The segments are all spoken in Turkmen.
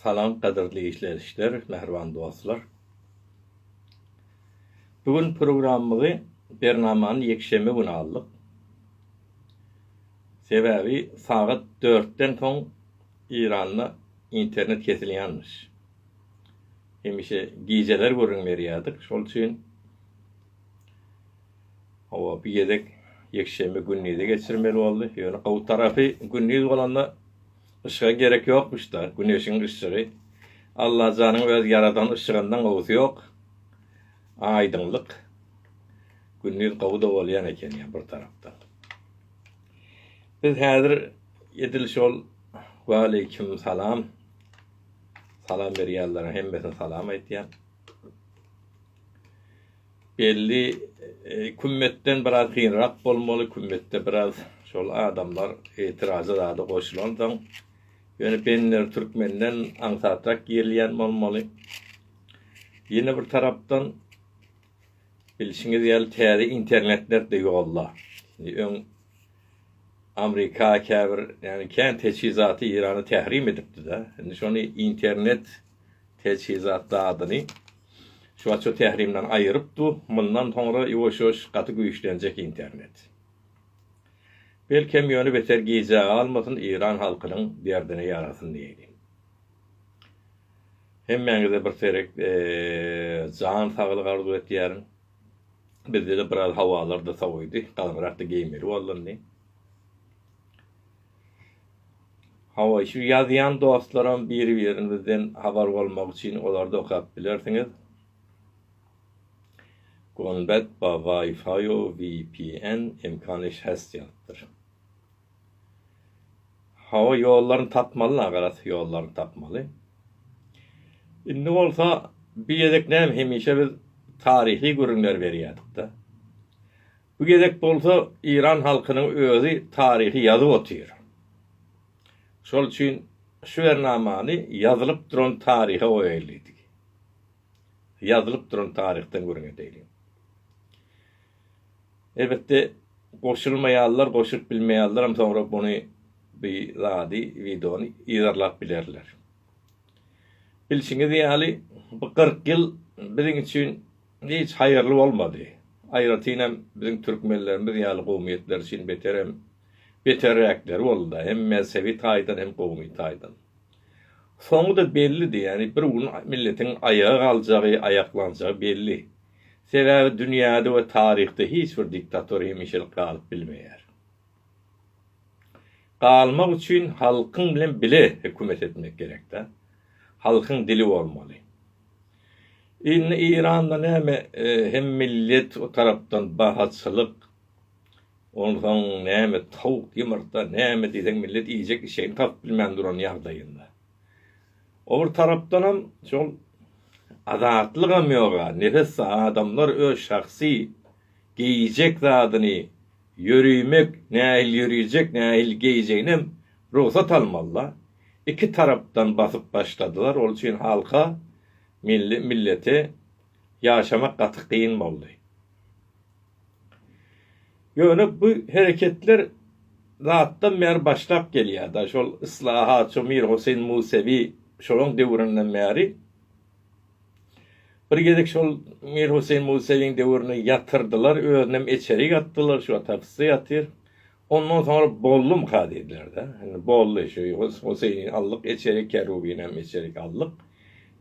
Salam gadyrly işlelişler, mähriban dostlar. Bu gün programmygy, bernamany ýekşenbe güni aldyk. Sebäbi sagat dörtden soň Eýranda internet kesilýänmiş. Hemişe gijeler gürrüň berýärdik, şol üçin Howa, bu gezek ýekşenbe gündizi geçirmeli boldy. Ýöne gowy tarapy, gündiz bolanda yşyga gerek ýokmuş-da, güneşiň yşygy. Allajanyň öz ýaradan yşygyndan gowusy ýok. Aýdyňlyk. Gündiz gowy-da bolýan eken ýa bir tarapdan. Biz häzir edil şol Waleýkim salam. Salam berýänleriň hemmesine salam aýtýan. Belli kümmetden biraz gyrrak bolmaly, kümmetde biraz şol adamlar etirajy zady goşulansoň, ýöne Benner türkmenden aňsatrak girilýän bolmaly. Ýene bir tarapdan, bilşiňiz ýaly täze internetler-de ýolda. Öň Amrika käbir, ýagny kän teçhizaty Eýrana tährim edipdi-de, indi şony internet, Teçhizat zadyny şuwaço Tährimden aýyryp du, mundan soňra ýuwaş-ýuwaş gaty güýçlenjek internet. Belkem ýöne beter gijä galmasyn Eýran halkynyň derdine ýarasyn diýeli. Hemmäňize bir serek jan saglyk arzuw etýärin. Bizde-de biraz hawalar-da sowydy, galňyrak-da geýmeli bolundy. Hawa, şu ýazýan dostlaram bir-birimizden habar bolmak üçin olarda okap bilersiňiz. Gonbet ba Wi-Fi-u VPN imkanyş has ýazypdyr. Hawa, ýollaryny tapmaly agaras, ýollaryny tapmaly. Indi bolsa bir gezek näme hemişe biz taryhy gürrüňler berýädik-de. Bu gezek bolsa Iran halkynyň özi taryhy ýazyp otyr. Şol üçin şu bernamany ýazylyp duran taryha goýaýly diý. Ýazylyp duran taryhdan gürrüň edeýli. Elbetde goşulmaýanlar goşulyp bilmeýänlerem soňra muny bu zady wideony yzarlap bilerler. Bilşiňiz ýaly bu kyrk ýyl biziň üçin Hiç haýyrly bolmady. Aýratyn hem biziň türkmenlerimiz ýaly gowumiýetler üçin beterem beterräkleri boldy-da, hem mezhebi taýdan, hem gowumy taýdan. Soňy-da bellidi, ýagny bir gün milletiň aýaga galjagy, aýaklanjagy belli. Sebäbi dünýäde we taryhda hiç bir diktator hemişelik galyp bilmeýär. galmak üçin halkyň bilen bile hökümet etmek gerek da halkyň dili bolmaly indi Iranda näme hem millet o tarapdan bahaçylyk onsoň näme towuk ýumurta näme diýseň millet iýjek işegini tapyp bilmän duran ýagdaýynda o bir tarapdanam şol azatlygam ýoga nefes adamlar öz şahsy geýjek zadyny Ýörimek, nähili ýörejek, nähili geýjeginem rugsat almaly-da. Iki tarapdan basyp başladylar. Ol üçin halka, milli, millete ýaşamak gaty kyn boldy. Ýöne bu hereketler datdan bäri başlap gelýär-de. Şol yslahatçy Mir Hoseýn Musewi şolaň döwründen bäri. Bir gezek şol Mir Huseýn Musaýewiň döwründe ýatyrdylar, özünem eçerik atdylar, şu wagt hapysda ýatyr. Ondan soňra boldumyka diýdiler-de. Indi boldy, şu Huseýni aldyk eçerik, Kerubinem eçerik aldyk.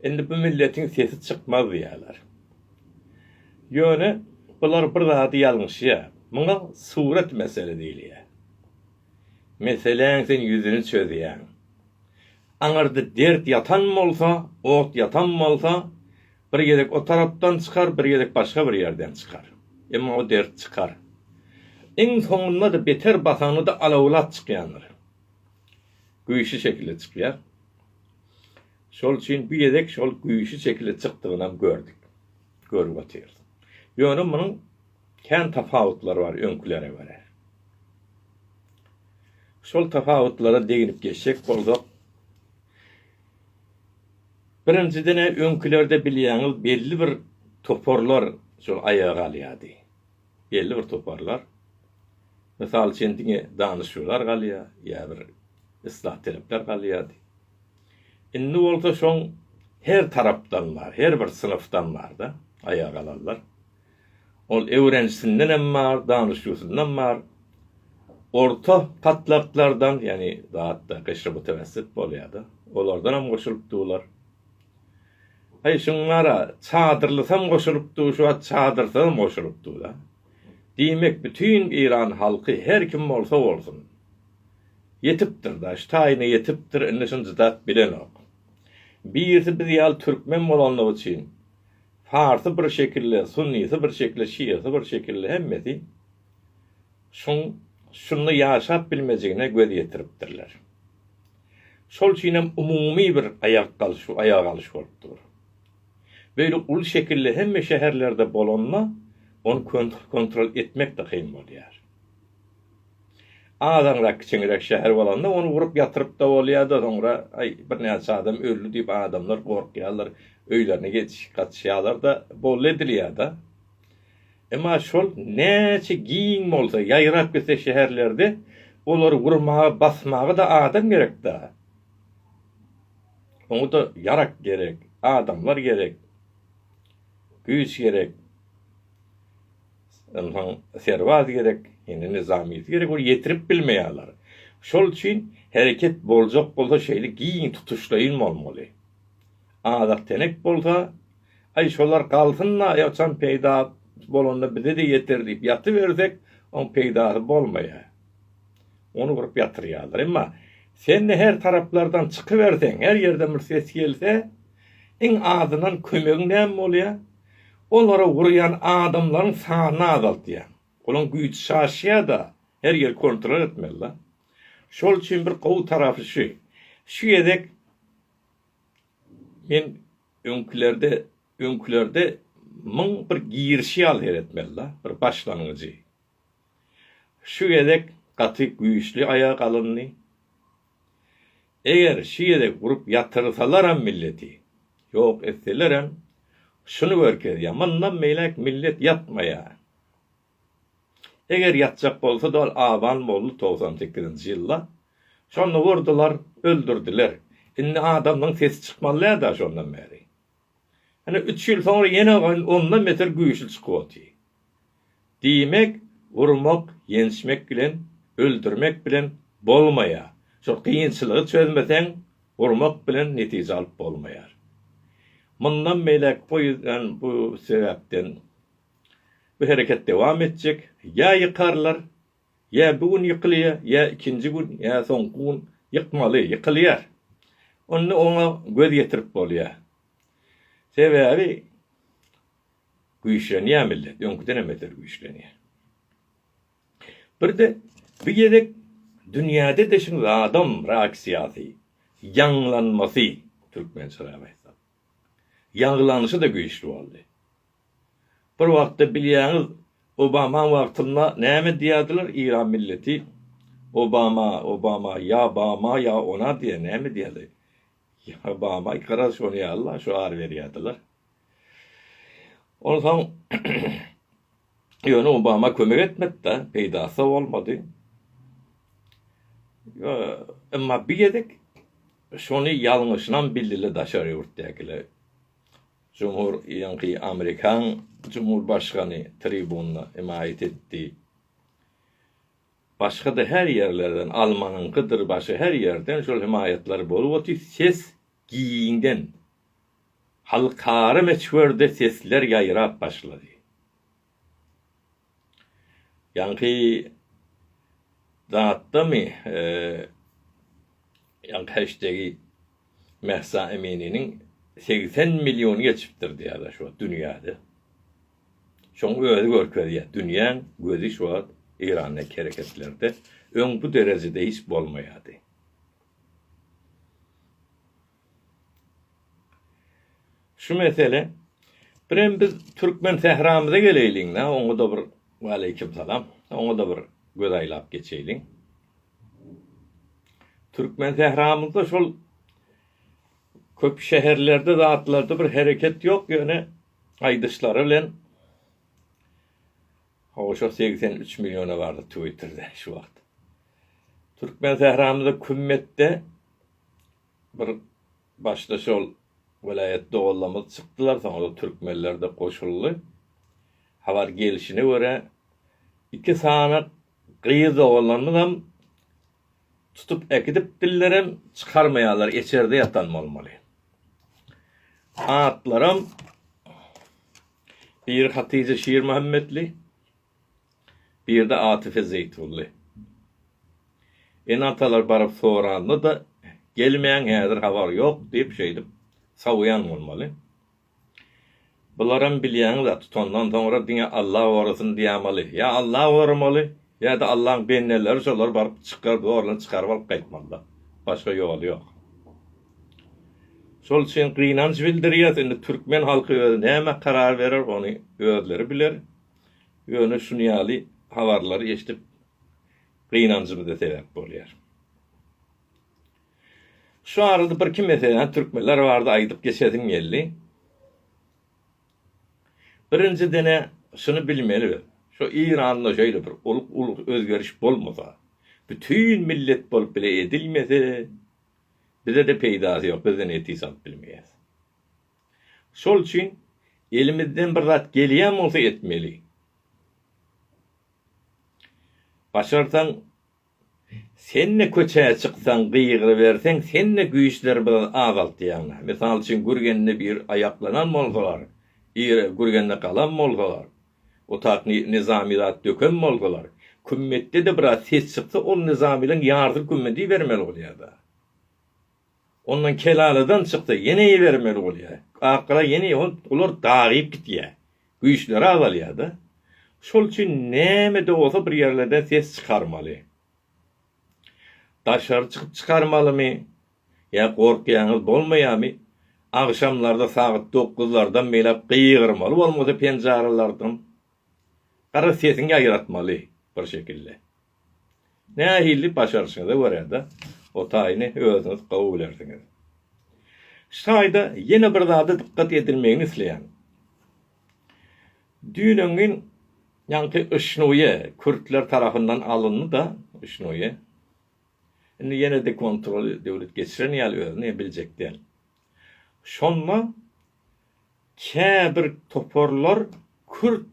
Indi bu milletiň sesi çykmaz diýýärler. Ýöne bular bir zady ýalňyşýar. Muňa surat mesele diýilýär. Meseläň sen ýüzüni çözýäň. Aňyrda dert ýatan bolsa, ot ýatan bolsa, bir gezek o tarapdan çykar, bir gezek başga bir ýerden çykar. Emma o dert çykar. Iň soňunda-da beter basanda-da alawlat çykýandyr. Güýçli şekilde çykýar. Şol üçin bu gezek şol güýçli şekilde çykdygynam gördük. Görüp otyrys. Ýöne munuň Kän tapawutlar bar öňkülere görä. Şol tapawutlara deginip geçjek bolsak, birinjiden öňkülerde bilýäňiz belli bir toparlar şol aýaga galýardy. Belli bir toparlar. Mysal üçin diňe danyşyjylar galýar, ýa bir yslah talepler galýardy. Indi bolsa şoň her tarapdan bar, her bir synpdan bar-da aýaga galanlar. Ol öwrenisinden-em bar, danyşyusyndan bar. Orta patlaklardan, ýagny zatda gyşrymutawessit bolýar-da, olardanam goşulyp duwlar. Heý, şuňara çadyrlysam goşulyp duw, şu wagt çadyrsazam goşulyp duw-da. Diýmek, bütin Eýran halky, her kim bolsa bolsun, ýetipdir-da, şu taýyna ýetipdir, indi şuny jydap bilenok. Birisi biz ýaly türkmen bolanlygy üçin, Farsy bir şekilde, sunnysy bir şekilde, şiasy bir şekilde hemmesi şoň şunda ýaşap bilmejegine göz ýetiripdirler. Şol üçinem umumy bir aýak galşy, aýak alyş bolup dur. Beýle uly şekilde hemme şäherlerde bolanda ony kontrol etmek-de kyn bolýar. Azaňrak kiçeňräk şäher bolanda ony urup ýatyrypda bolýada soňra aý birnäçe adam öldi diýip adamlar gorkýarlar öýlerine ýetişip gaçyşýarlarda boldy edilýada. Emma şol näçe giň bolsa ýaýrap gitse şäherlerde olary urmaga basmaga-da adam gerekda. Oňada ýarak gerek, adamlar gerek, güýç gerek. Ynsan serbazy gerek, indi nyzamyýeti gerek, ol ýetirip bilmeýärler. Şol üçin hereket boljak bolsa şeýle giň tutuşlaýyn bolmaly. Azak tenek bolsa, aý şolar galsyn-da, ýaçan peýda bolanda bize-de ýeter diýip ýatybersek, oň peýdasy bolmaýar. Ony gurup ýatyrýarlar. Emma sen-de her taraplardan çykyberseň, her ýerden bir ses gelse, iň azyndan kömegiň näme bolýar? Olary urýan adamlaryň sanyny azaltýar. Olaryň güýji çaşýar-da, her ýeri kontrol etmeli-de. Şol üçin bir gowy tarapy şu, şu gezek men öňkülerde, öňkülerde muň bir girişi ýaly seretmeli-de, bir başlangyjy. Şu gezek gaty güýçli aýa galyndy. Eger şu gezek urup ýatyrsalaram milleti, ýok etselerem, şuny görkezýär, mundan beýläk millet ýatmaýar. Eger ýatjak bolsady ol aban boldy togsan sekizinji ýylda. Şonda urdular, öldürdiler. Indi adamyň sesi çykmazlär-dä şondan bäri. Ine, üç ýyl soňra ýene ondan beter güýçli çykyp otyr. Diýmek, urmak, ýençmek bilen, öldürmek bilen bolmaýar. Şol kynçylygy çözmeseň, urmak bilen netije alyp bolmaýar. Mundan beýläk poýizden bu sebäpden bu hereket dowam etjek, ýa ýykarlar, Ýa bu gün ýykylýar, ýa ikinji gün, ýa soňky gün ýykmaly, ýykylýar. Onda oňa göz ýetirip bolýar. Sebäbi güýçlenýär millet, öňküdenem beter güýçlenýär. Bir-de bu gezek dünýäde-de şuny zadam reaksiýasy, ýaňlanmasy, türkmençe gaýtsam, ýaňlanyşy-da güýçli boldy. Bir wagtda bilýäňiz Obamaň wagtynda näme diýýärdiler Iran milleti Obama Obama ýa Bama ýa ona diýýär näme diýýärdi ýa Bama ikara şony ýalyla şu ary berýärdiler. Onsoň ýöne Obama kömek etmedida peýdasy bolmady. Emma bir gezek şony ýalňyşynam bildile daşary ýurtdakiler. Jumhur ýylyňky amerikan jumhurbaşgany tribunda hemaýat etdi. Başga-da her ýerlerden, almanyňkydyr, başga her ýerden şol hemaýatlar bolup otyr. Ses giňden, halkara möçberde sesler ýaýrap başlady. Ýaňky zatdamy ýaňky heştegi Mahsa Emininiň segsen milliony geçipdir diýýärler şu wagt dünýäde. Şoň özi görkezýär dünýäň gözi şu wagt Eýrandaky hereketlerde öň bu derejede hiç bolmaýardy. Şu mesele Birem biz türkmen sähramyza geleýliň-dä, oňa-da bir Waleýkim salam. Oňa-da bir göz aýlap geçeýliň. Türkmen sähramyzda şol köp şäherlerde zatlarda bir hereket ýok, ýöne aýdyşlary bilen Hawa şo segsen üç milliona bardy twitterde şu wagt. Türkmen sähramyzda kümmetde Bir başda şol welaýat doganlarymyz çykdylar, soňra türkmenler-de goşuldy. Habar gelşine görä, iki sany gyz doganlarymyzam tutup äkidipdirlerem, çykarmaýarlar, içerde ýatan bolmaly. Atlaram biri Hatyja Şirmuhammetli, Birde Atyfy Zeýtunly. Ene-atalar baryp soranda-da, Gelmäň, häzir habar ýok diýip, şeýdip, sowýan bolmaly. Bularam bilýäňiz-ä, tutandan soňra diňe Alla gorasyn diýämaly. Ýa Alla goramaly, ýa-da Allaň bendeleri şolar baryp çykaryp, zorlan çykaryp alyp gaýtmaly-da. Başga ýoly ýok. Şol üçin gynanç bildirýäs. Indi türkmen halky özi nämä karar berer, ony özleri biler. Ýöne şuny ýaly habarlary eşidip gynanjymyza sebäp bolýar. Şu arada bir iki meseläni türkmenler barada aýdyp geçesim geldi. Birinjidene şuny bilmeli biz. Şu Iranda şeýle bir ulyk ulyk özgeriş bolmasa, bütin millet bolup bile edilmese, bize-de peýdasy ýok, biz-de netije alyp bilmeýäs. Şol üçin elimizden bir zat gelýän bolsa etmeli. Başarsaň senne köçä çyksaň gygyryberseň senne güýçleri biraz azaltýaň. Mysal üçin gürgende bir aýaklanan bolsalar, ir gürgende galan bolsalar, otaq nizami zat döken bolsalar, kümmetde-de biraz ses çyksa ol nizamynyň ýarysyny kümmedeýbermeli bolýada. Ondan kelaladan çyksa ýene ibermeli bolýar. Akgyra ýene olar dagyp gitýär. Güýçleri azalýar-da. Şol üçin näme-de bolsa bir ýerlerde ses çykarmaly. Daşary çykyp çykarmalymy ýa gorkýaňyz bolmaýamy? Agşamlarda sagat dokuzlardan beýläk gygyrmaly bolmasa penjaralardan. Gara sesiňi ýaýratmaly bir şekilde. Nähili başaryşyňyza görä-de, o taýyny özüňiz gowy bilersiňiz. Şu taýda ýene bir zada dykgat edilmegini isleýän. Düýnüňin ýaňky Yşnuýe kürtler tarapyndan alyndy-da, Yşnuýe. Indi ýene-de kontroly döwlet geçiren ýaly özüni biljek däl. Şonda käbir toparlar kürt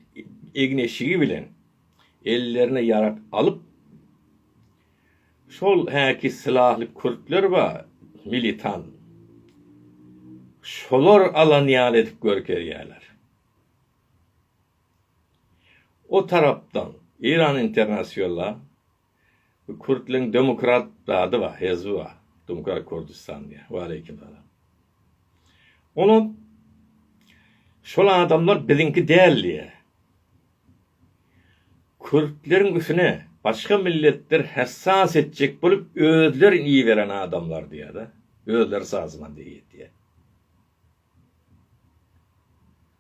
egin-eşigi bilen, ellerine ýarag alyp, şol häki sylahly kürtler bar, militant, şolar alan ýaly edip görkezýärler. O tarapdan Iran International, Bu kürtleň demokrat zady bar, hezbi bar. Dumkar Kurdistan diýýär. Waleýkim salam. Olar şol adamlar biziňki däl diýýär. Kürtleriň üsüne başga milletler hassas etjek bolup özlerin iberen adamlar diýýär-de. Özleri sazman diýýär.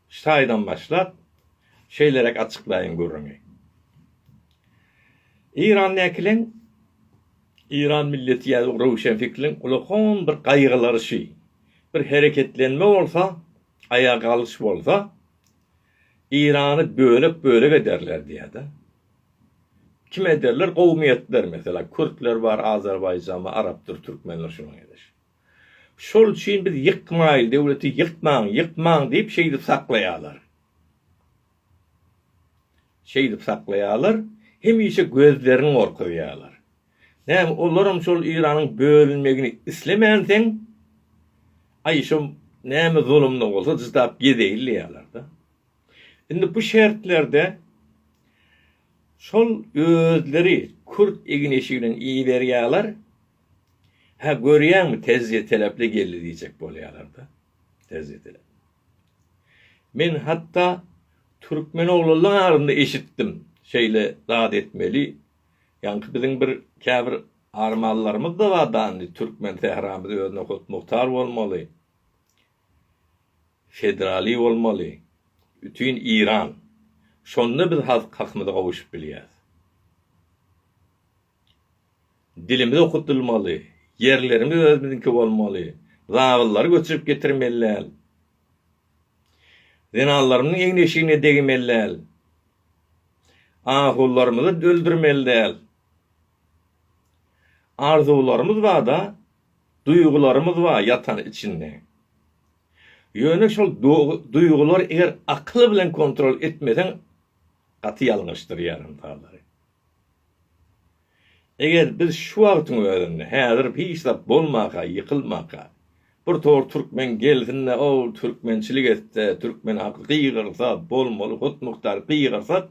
Şaýdan başlap, şeýleräk açyklaýyn gürrüňi. Eýran näkileň, eýran milleti ýa röwşenfikriň ulakam bir gaýgylaryşy, bir hereketlenme bolsa, aýaga galyş bolsa, Eýrany bölek-bölek ederler diýýär-de. Kim ederler? Kowumiýetler, meselem, kürtler bar, azerbaýjanly, arapdyr, türkmendir şunuň ýaly. Şol üçin biz ýykmaýly döwleti ýykmaň, ýykmaň diýip şeýdip saklaýarlar. Şeýdip saklaýarlar, hemişe gözlerini gorkuzýarlar. Näme, olaram şol Eýranyň bölünmegini islemänsiň, aý şo näme zulumda bolsa cydap gezeýin diýýärler-de. Indi bu şertlerde şol özleri kürt egin-eşiginiň iýiberýärler, Hä, görýäňmi, tejribe-telepli geldi diýjek bolýarlar-da. Tejribe-telepli. Men hatda türkmen oglanlaryň arasynda eşitdim, şeýle zat etmeli, ýaňky biziň bir käbir armanlarymyz-da bar dany, türkmen sähramyz özüne hut-muhtar bolmaly, federaliý bolmaly, bütin Iran. Şonda biz hak-hakymyza gowuşyp bilýäris. Dilimiz okudylmaly, ýerlerimiz özümiziňki bolmaly, zabyllary göçürip getirmeliäl. Zenanlarymyzyň egin-eşigine degmeliäl. Ahulylarymyzy öldürmeliäl. Arzuwlarymyz bar-da, duýgularymyz bar ýatan içinde. Ýöne şol duýgulary eger akyl bilen kontrol etmeseň gaty ýalňyşdyr ýarym-salary. Eger biz şu wagtyň özünde, häzir hiç zat bolmaka, ýykylmaka, bir tor türkmen gelsin-de, o türkmençilik etse, türkmen halky gygyrsa, bolmaly hut-muhtar gygyrsak,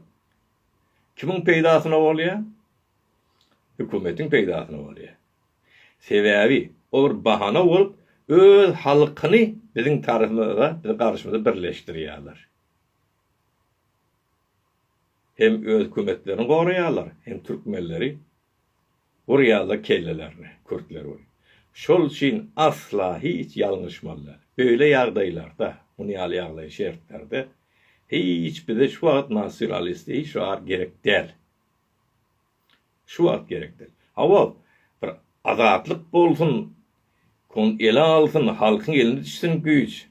kimiň peýdasyna bolýar? Hökümetiň peýdasyna bolýar. Sebäbi, o bir bahana bolup, öz halkyny biziň tarapymyza, biziň garşymyza birleşdirýärler. Hem öz kömetlerini goraýarlar hem türkmenleri urýarlar kellelerini kürtler we şol üçin asla hiç ýalňyşmaly däl. Beýle ýagdaýlarda muny ýaly ýagdaý şertlerde hiç bize şu wagt nasyonalisti hiç wagt gerek däl. Şu wagt gerek däl. Hawa, bir azatlyk bolsun, kon ele alsyn, halkyň eline düşsün güýç.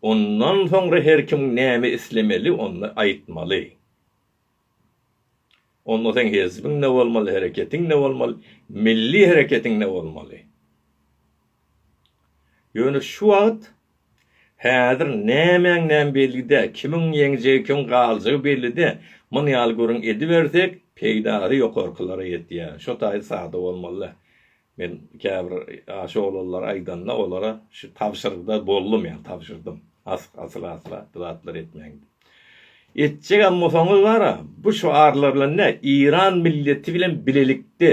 Ondan soňra her kim näme islemeli, onda aýtmaly. Onda seň hezbiň ne bolmaly, hereketiň ne bolmaly, milli hereketiň ne bolmaly. Ýöne şu wagt, häzir nämäňem belli-dä, kimiň ýeňjegi, kimiň galjagy belli-dä. Muny ýaly gürrüň edibersek, peýdasy ýokarkylara ýetýär. Şo taýy sada bolmaly-da. Men käbir aşa oglanlar aýdanda, olara şu tabşyrygda boldum, ýa tabşyrdym. Asyla-asyla bu zatlary etmäň diýip. Etjegem bolsaňyz bar-a, bu şyarlar bilen dä, Eýran milleti bilen bilelikde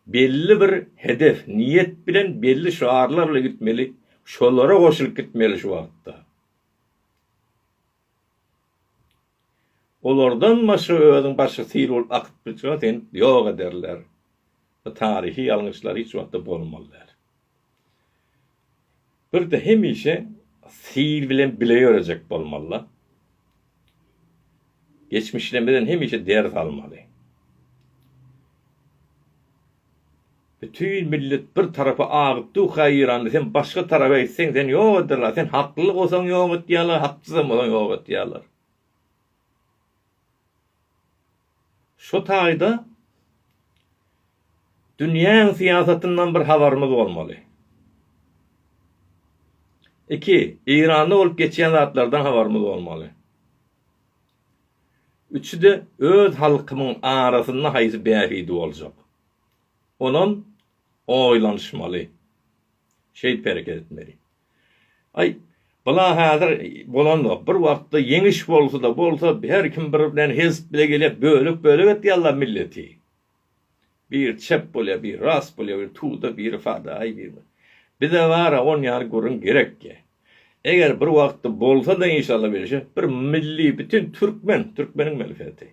Belli bir hedef, niýet bilen belli şygarlar bilen gitmeli, şolara goşulyp gitmeli şu wagtda. Olardan başga özüň başga sil bolup akyp gitseň seni ýok ederler. Bu taryhy ýalňyşlar hiç wagtda bolmaly däl. Birde hemişe sil bilen bile ýörejek bolmaly-da. Geçmişlemizden hemişe ders almaly. Bütin millet bir tarapa agyp dur-ha Eýrany, sen başga tarapa gitseň seni ýok ederler, sen hakly bolsaň ýok edýärler, haksyzam bolsaň ýok edýärler. Şu taýda dünýäň syýasatyndan bir habarymyz bolmaly. Iki, Eýranda bolup geçýän zatlardan habarymyz bolmaly. Üçüde öz halkymyň arasynda haýsy bähbidi boljak. Onam oýlanyşmaly. Şeýdip hereket etmeli. Aý, bula häzir bolanok. Bir wagtda Ýeňiş bolsa-da bolsa, her kim bir bilen hezp bile gelýär, bölek-bölek etýärler milleti. Biri çep bolýar, biri ras bolýar, biri tuda, biri fadaýy, biri. Bize bar-a on ýaly gürrüň gerekki. Eger bir wagtda bolsa-da inşalla bilşi, bir milli bütin türkmen, türkmeniň melheti.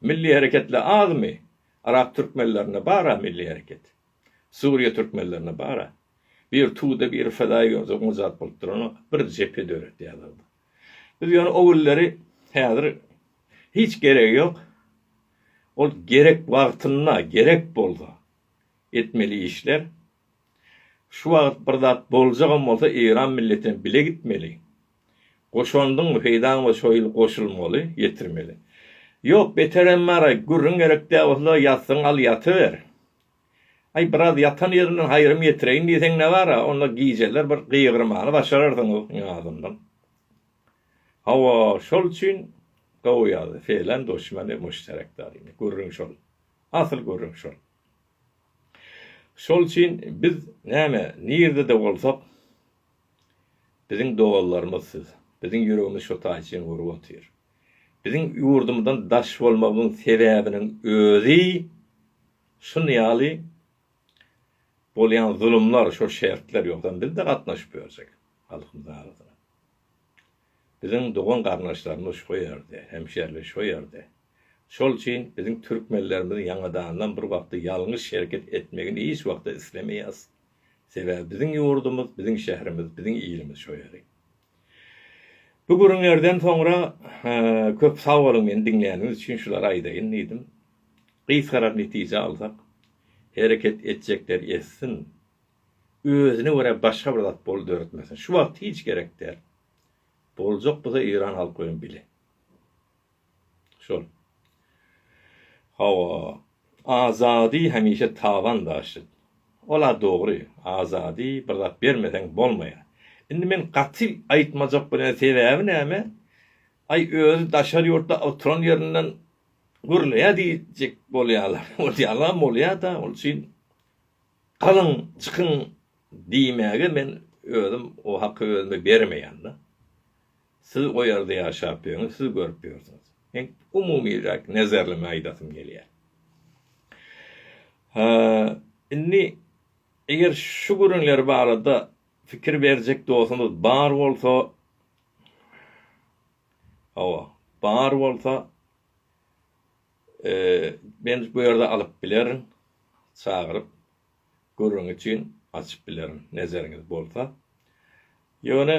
Milli hereketler azmy? Arap türkmenlerinde bar-a milli hereket. Suriýa türkmenlerine bar-a. Bir Tuda, bir Fedaýy görse oňa zat bolup duranok, bir jephe döretýärler-de. Biz ýöne o günleri häzir hiç geregi ýok. Ol gerek wagtynda, gerek bolsa etmeli işler. Şu wagt bir zat boljagam bolsa Eýran milletine bile gitmeli. Goşandyňmy, peýdaň bolsa şo ýyl goşulmaly, ýetirmeli. Ýok, beterem bar-a, gürrüň gerek däl bolsa ýatsaň al ýatyber. Aý, biraz ýatan ýerinden haýrym ýetireýin diýseň ne bar-a, onda gijeler bir gygyrmany başararsyňyz Nyýazyndan. Hawa, şol üçin gowy ýazdy, Felen duşmany müşterek daryny. Gürrüň şol. Asyl gürrüň şol. Şol üçin biz, näme, nirde-de bolsak, Biziň doganlarymyz siz. Biziň ýüregimiz şo taýçyň urup otyr. Biziň ýurdumyzdan daş bolmagyň sebäbiniň özi şun ýaly bolýan zulumlar, şo şertler, ýogsam biz-de gatnaşyp ýörjek halkymyzyň arasyna. Biziň dogan-garyndaşlarymyz şo ýerde, hemşerimiz şo ýerde. Şol üçin biziň türkmenlerimiziň ýaňadandan bir wagtda ýalňyş hereket etmegini hiç wagtda islemeýäs. Sebäbi biziň ýurdumyz, biziň şäherimiz, biziň ilimiz şo ýeri. Bu gürrüňlerden soňra köp sag boluň meni diňläniňiz üçin şulary aýdaýyn diýdim. Gysgarak netije alsak, hereket etjekler etsin, özüne görä başga bir zat bol döretmesin. Şu wagt hiç gerek däl. Boljak bolsa Eýran halky bilen bile. Şol. Hawa, Azady hemişe taban daşyt. Ol-a dogry, Azady bir zat bermeseň bolmaýar. Indi men gaty aýtmajak bolýan sebäbi näme? Aý, özi daşary ýurtda oturan ýerinden gürleýär diýjek bolýarlar. Ol ýalam bolýa-da, ol üçin galyň, çykyň diýmäge men özüm o haky özüme bermeýän-de. Siz o ýerde ýaşap ýöňiz, siz görüp ýörsüňiz. Men umumyrak nezerleme aýdasym gelýär. Ha, indi eger şu gürrüňler barada pikir berjek dostuňyz bar bolsa, hawa, bar bolsa, e, men bu ýerde alyp bilerin, çagyryp, gürrüň üçin açyp bilerin, nezeriňiz bolsa. Ýöne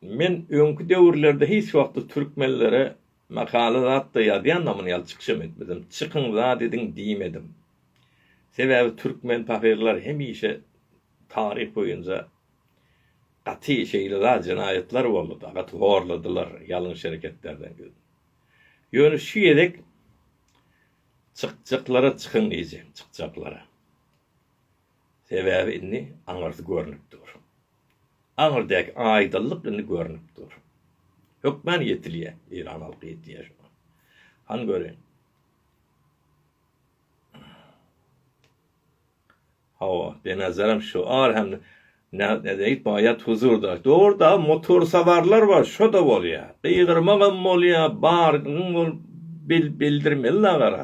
Men öňki döwürlerde hiç wagtda türkmenlere makala zat-da ýazýandam, muny ýaly çykyşam etmedim. Çykyň zat ediň diýmedim. Sebäbi türkmen pahyrlary hemişe taryh boýunja gaty şeýle zat jenaýatlar boldy-da, gaty horladylar, ýalňyş hereketlerden ýüz. Ýöne şu gezek çykjaklara çykyň diýjek, çykjaklara. Sebäbi indi aňyrsy görnüp dur. Aňyrdäki aýdyllyk indi görnüp dur. Hökman ýetilýär. Eýran halky ýetilýär şoňa. Han göreýin. Hawa, denazaram şu ar hem ne nedeýt baýat huzurda. Dogruda motor sawarlar bar, şo da bolýar. Gygyrmagam bolýar, bargyň bol bil bildirmeli nagara.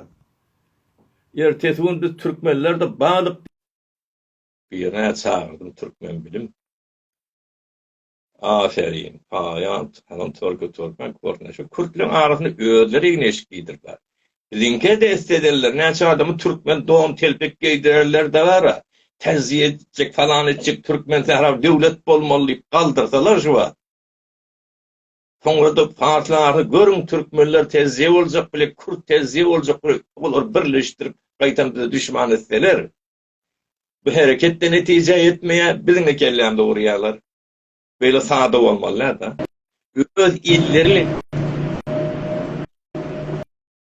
Ertesi gün biz türkmenler-de balyk. Birine çagyrdym türkmen bilim. Aferin, Aýant hanym tolko türkmen görnüşi kürtleň arasynda özleri igna eşik giýdiripler. Biziňke dest edenler näçe adamy türkmen don telpek geýdirenler de bara. Täziýe etjek falan etjek türkmen sähra döwlet bolmaly diýip galdyrsalar şu wagt. Soňra-da parslarny görüň, türkmenler tezje boljak bile, kürt tezje boljak bile, olar birleşdirip gaýtam bize duşman etseler, bu hereket-de netije ýetmeýär, biziňi kellämze urýarlar. Beýle sada bolmaly däl-de. Öz illeri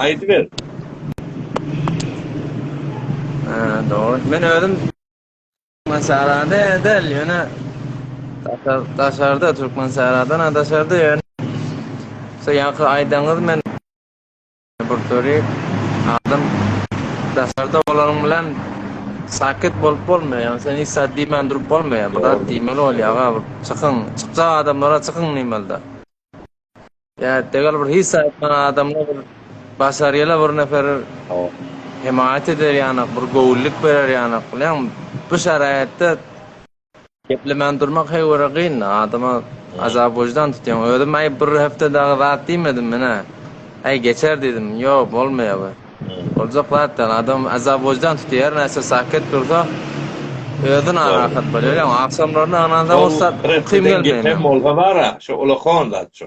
Aýdyber. Ha, dogry. Men özüm Türkmen sarada edel, ýöne daşarda Türkmen saradan daşarda ýöne. Soň ýaňky aýdaňyz men Bursary adam daşarda bolanyň bilen sakyt bolup bolmaýar. Ýagny sen hiç zat diýmän durup bolmaýar. Bir zat diýmeli bolýar-a bir çykyň, çykjak adamlara çykyň diýmeli-de. Ýa degel bir hiç zat aýtman adamlar bir başarýala bir nefer hemaýat eder ýanak, bir göwünlik berer ýanak. Bilýäňmi, bu şaraýatda Geplemän durmak heý görä gyn-da, adama azap wyždan tutýaň. Özüm aý bir hepde dagy zat diýmedim menä. Aý geçer diýdim, ýok bolmaýar bu. Boljak zat däl, adam azap wyždan tutýar, näçe saket dursa özi narahat bolýar. Ýa agşamlaryna ynansaň ussat uky gelmeýär. Bolsa bara, şo ulakon zat şo.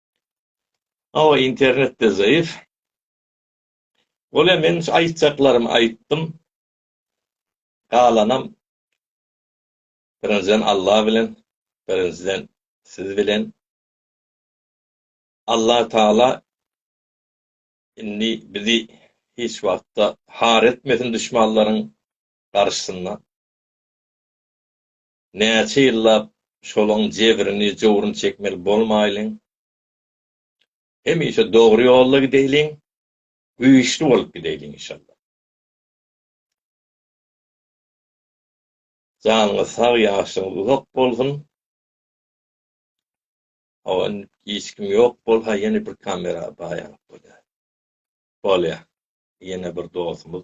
Hawa internetde zaýyf. Bolýa men aýtjaklarymy aýtdym. Galanam birinjiden Allah bilen birinjiden siz bilen. Allah taala indi bizi hiç wagtda har etmesin duşmanlaryň garşysynda. Näçe ýyllap şolaň jebrini, jowruny çekmeli bolmaýlyň. Hemişe dogry ýolda gideýliň, güýçli bolup gideýliň inşallah. Janyňyz sag, ýaşlygyňyz uzak bolsun. Hawa indi hiç kim ýok bolsa ýene bir kamera baýanyp bolýar. Bolýar. Ýene bir dostumyz